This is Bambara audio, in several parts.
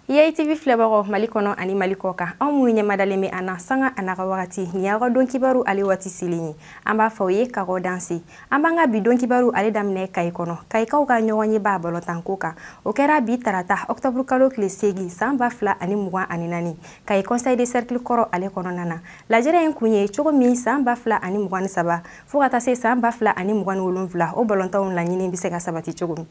EITV filɛbagaw Mali kɔnɔ ani Mali kɔ kan aw minnu ɲɛmadalen bɛ an na sanga an'a ka wagati nin y'aw ka don kibaru ale waati selen ye an b'a fɔ aw ye k'aw danse an b'an ka bi don kibaru ale daminɛ kayi kɔnɔ kayikaw ka ɲɔgɔnyeba balɔntanko kan o kɛra bi tarata ɔkutɔburu kalo tile seegin san ba fila ani mugan ani naani kayi conseil de cercle kɔrɔ ale kɔnɔna na lajɛrɛ in kun ye cogo min san ba fila ani mugan ni saba fo ka taa se san ba fila ani mugan ni wolonfila o balɔntanw laɲini bɛ se ka sabati cogo min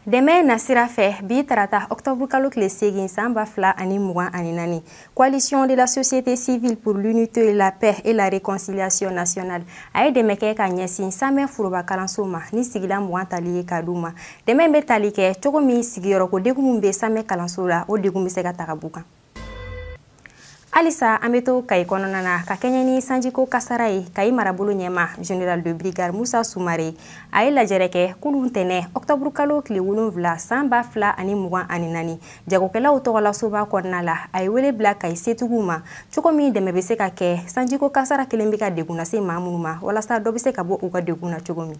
Dɛmɛ nasira fɛ bi tarata octobre kalo tile segin san ba fila ani mugan ani naani coalition de la société civile pour l'unité la paix et la réconciliation nationale a ye dɛmɛ kɛ ka ɲɛsin samɛ foroba kalanso ma ni sigilan mugan tali ye ka d'u ma dɛmɛ bɛ tali kɛ cogo min sigiyɔrɔko degun min bɛ samɛ kalanso la o degun bɛ se ka ta ka b'u kan halisa an be to kayi kɔnɔna na ka kɛɲɛ ni sanjiko kasara ye kayi marabolo ɲɛmaa général de brigade musa sumare a ye lajɛrɛ kɛ kunu ntɛnɛ ɔktɔburu kalo tile wolonfila san ba fila ani mugan ani nani jagokɛlaw tɔgɔlasoba kɔnɔna la a ye wele bila kayi setigiw ma cogo min dɛmɛ be se ka kɛ sanjiko kasara kelen be ka degun lase maa minnu ma walasa dɔ be se ka bɔ u ka degun na cogo min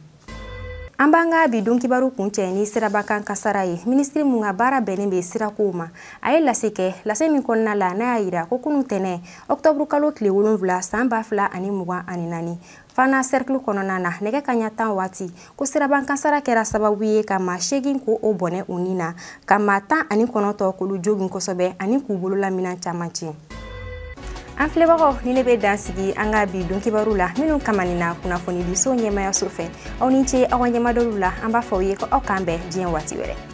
an b'an ka bi don kibaru kuncɛ ni siraba kan kasara ye minisiri mun ka baara bɛnnen bɛ sirakow ma a ye lase kɛ lase min kɔnɔna la n'a y'a yira ko kunu tɛnɛ ɔktɔburu kalo tile wolonfila san ba fila ani mugan ani naani fana sɛrikili kɔnɔna na nɛgɛ kaɲa tan waati ko siraba kasara kɛra sababu ye ka maa seegin k'olu bɔnɛ u ni na ka maa tan ani kɔnɔntɔn k'olu jogin kosɛbɛ ani k'u bololaminan caman tiɲɛ an filɛbagaw nin de bɛ dan sigi an ka bi don kibaru la minnu kamanina kunnafonidiso ɲɛmayaso fɛ aw ni ce aw ka ɲɛmadɔli la an b'a fɔ aw ye ko aw k'an bɛn diɲɛ waati wɛrɛ